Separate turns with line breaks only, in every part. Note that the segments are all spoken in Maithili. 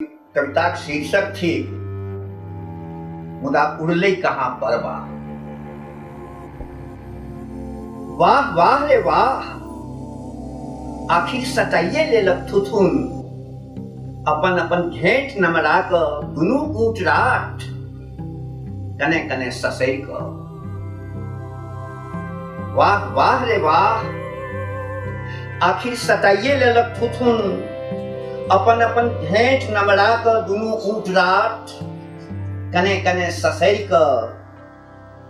कविताक शीर्षक थिक मुदा उड़लै कहाँ परबा वाह वाह रे वाह आखिर सटाइए लेलक थुथुन अपन अपन घेंट नमरा कऽ दुनू ऊँट राट कने कने ससरि कऽ वाह वाह रे वाह आखिर सटाइए लेलक थुथुन अपन अपन भेंट नमरा कऽ दुनू ऊँट रात कने कने ससरि कऽ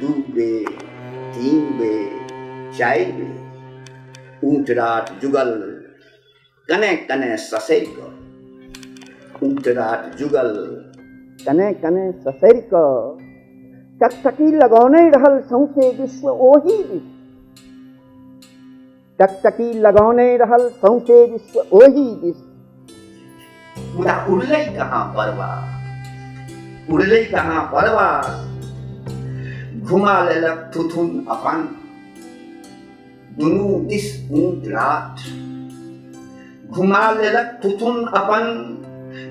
दू बेर तीन बेर चारि बेर ऊँटराट जुगल कने कने ससरि कऽ ऊँटराट जुगल कने कने ससरि कऽ टकटकी लगौने रहल सौंसे विश्व ओही दिस टकटकी लगौने रहल सौंसे विश्व ओही विश्व मुदा उड़लै कहाँ परवा उड़लै कहाँ परवा घुमा लेलक थुथुन अपन दुनू दिस ऊँट रात घुमा लेलक थुथुन अपन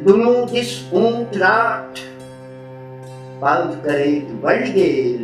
दुनू दिस ऊँट रात बाउद करैत बढ़ि गेल